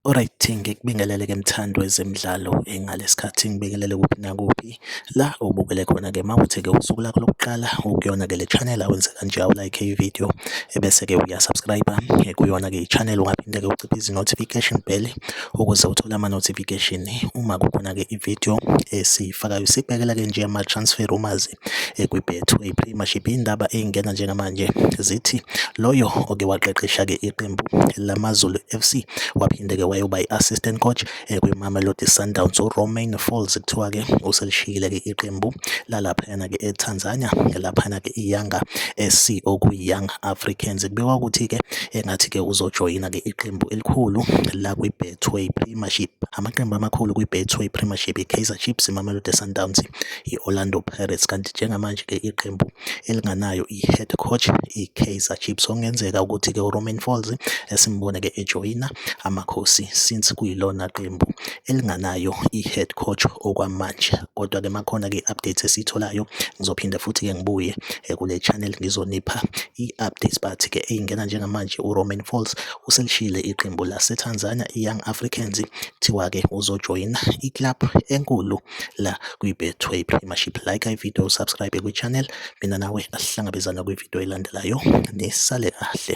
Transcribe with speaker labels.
Speaker 1: Alright, ngikubingelele ke mthandi wezemidlalo engalesikhathi ngibingelele kuphi nakuphi La ubukele khona-ke uma kuthi-ke usuku lakho lokuqala ukuyona-ke le channel awenze kanje awulayikhe ividiyo ebese-ke uyasubscribe-a kuyona-ke i-channel ungaphinde-ke uciphe izi-notification bell ukuze uthole ama-notification uma kukhona-ke ividiyo esiyifakayo sibhekela-ke nje ama-transfer rumours kwi-Betway Premiership indaba eyingena njengamanje zithi loyo oke waqeqesha-ke iqembu lamaZulu FC waphinde-ke wayoba i-assistant coach kwiMamelodi Sundowns uRomain Folz kuthiwa-ke uselishiyile-ke iqembu lalaphayana-ke eTanzania ngelaphayana-ke iYanga SC okuyi-Young Africans. Kubikwa ukuthi-ke engathi-ke uzojoyina-ke iqembu elikhulu la kwi-Betway Premiership. Amaqembu amakhulu kwi-Betway Premiership i-Kaizer Chiefs, iMamelodi Sundowns, i-Orlando Pirates kanti njengamanje-ke iqembu elinganayo i-head coach i-Kaizer Chiefs okungenzeka ukuthi-ke uRomain Folz esimbone-ke ejoyina amakhosi since kuyilona qembu elinganayo i-head coach okwamanje kodwa-ke makhona-ke i-updates esiyitholayo ngizophinde futhi-ke ngibuye eh, kule channel ngizonipha i-updates but-ke eyingena njengamanje uRomain Folz uselishile iqembu laseTanzania i-Young Africans kuthiwa-ke uzojoyina i-club enkulu la kwi-betway premiership like ividiyo usubscribe kwi-channel mina nawe asihlangabezana kwividiyo elandelayo nisale kahle